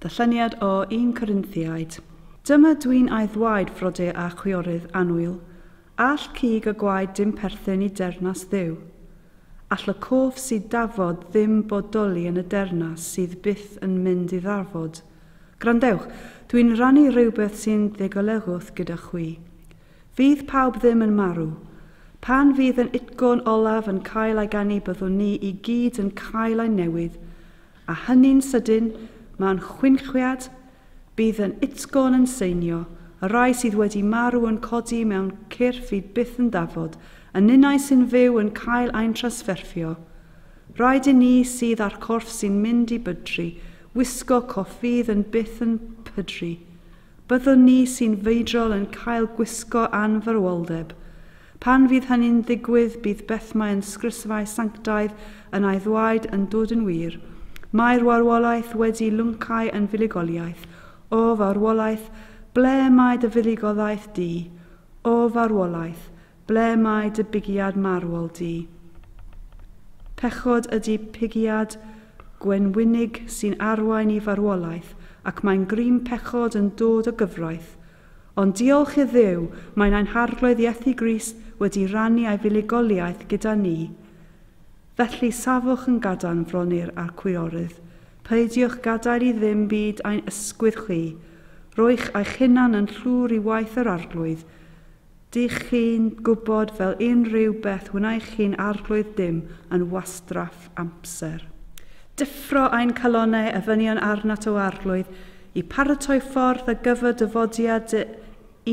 Darlleniad o 1 Corinthiaid. Dyma dwi'n aeddwaed frode a chwiorydd annwyl, all cig a gwaed dim perthyn i dernas Dduw. All y cof sydd dafod ddim bodoli yn y dernas sydd byth yn mynd i ddarfod. Gwrandewch, dwi'n rhannu rhywbeth sy'n ddigolegu'th gyda chwi. Fydd pawb ddim yn marw. Pan fydd yn utgôn olaf yn cael ei ganu byddwn ni i gyd yn cael ein newydd, a hynny'n sydyn, mewn chwinchwiad, bydd yn utgôn yn seinio, y rhai sydd wedi marw yn codi mewn cyrff i byth yn dafod, y ninnau sy'n fyw yn cael ein transferfio. Rhaid i ni sydd â'r corff sy'n mynd i bydru, wisgo coff fydd yn byth yn pydru. Byddwn ni sy'n feidrol yn cael gwisgo anfarwoldeb. Pan fydd hynny'n ddigwydd, bydd beth mae'n sgrisfau sanctaidd yn ei ddwaed yn dod yn wir. Mae'r warwolaeth wedi lwncau yn fuddugoliaeth. O farwolaeth, ble mae dy fuddugoliaeth di? O farwolaeth, Ble mae dy bugiad marwol di? Pechod ydy pugiad gwenwynig sy'n arwain i farwolaeth ac mae'n grym pechod yn dod o gyfraith. Ond diolch i Dduw, mae nain Harglwydd Iesu Grist wedi rannu ei fuligoliaeth gyda ni. Felly safwch yn gadarn fronur a'r cwiorydd, peidiwch gadael i ddim byd ein ysgwydd chwi, rhoi'ch eich hunan yn llwr i waith yr Arglwydd, Dych chi'n gwybod, fel unrhyw beth, wnaech chi'n arglwydd dim yn wastraff amser. Deffro ein calonnau a ddynion arnat o arglwydd i paratoi ffordd ar gyfer dyfodiad dy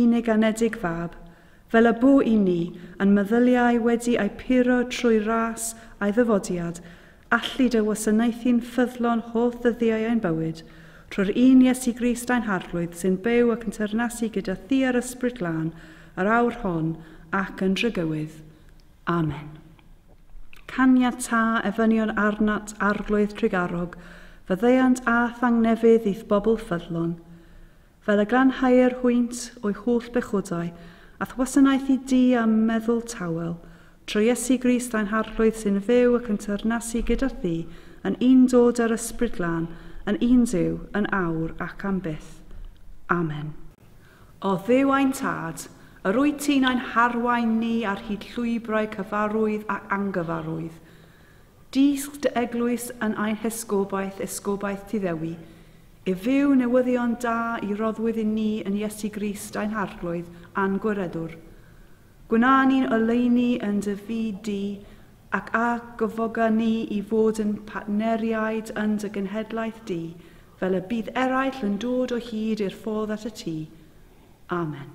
unig anedig fab, fel y bu i ni, a'n meddyliau wedi eu puro trwy ras a'i ddyfodiad, allu dy wasanaethu'n ffyddlon holl ddyddiau ein bywyd, trwy'r un Iesu Grist ein Harglwydd sy'n byw ac yn teyrnasu gyda Thi a'r Ysbryd Glân yr awr hon ac yn drygywydd. Amen. Caniata efynion arnat, Arglwydd trugarog, faddeuant a thangnefydd i'th bobl ffyddlon. Fel y glanhauir hwynt o'i holl bechodau, a'th wasanaethu di a meddwl tawel, trwy Iesu Grist tha'n Harglwydd sy'n fyw ac yn teyrnasu gyda thi yn un dod â'r Ysbryd Glân, yn un Duw, yn awr ac am byth. Amen. O Dduw ein Tad, yr wyt ti'n ein harwain ni ar hyd llwybrau cyfarwydd a angyfarwydd. Dysg dy Eglwys yn ein hesgobaeth, esgobaeth ti Ddewi, Ef yw newyddion da i roddwyd i ni yn Iesu Grist ein Harglwydd a'n Gwiredwr. Gwna ni'n oleuni yn dy fyd di, ac a gyfoga ni i fod yn partneriaid yn dy genhedlaeth di, fel y bydd eraill yn dod o hyd i'r ffordd at y tŷ. Amen.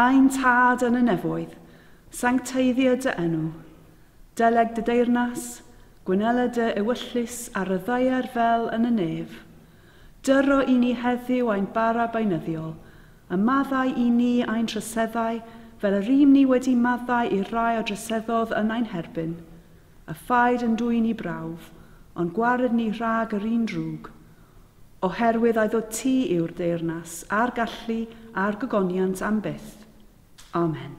Ein Tad yn y nefoedd, sancteiddia dy enw. Deleg dy deyrnas, Gwynela dy ewyllys ar y ddaear fel yn y nef. Dyro i ni heddiw ein bara beunyddiol, a maddau i ni ein troseddau fel yr ŷm ni wedi maddau i'r rhai a droseddodd yn ein herbyn. A phaid yn dwyn ni brawf, ond gwared ni rhag yr un drwg. Oherwydd a'i ddod ti yw'r deyrnas, a'r gallu, a'r gogoniant am byth. Amen.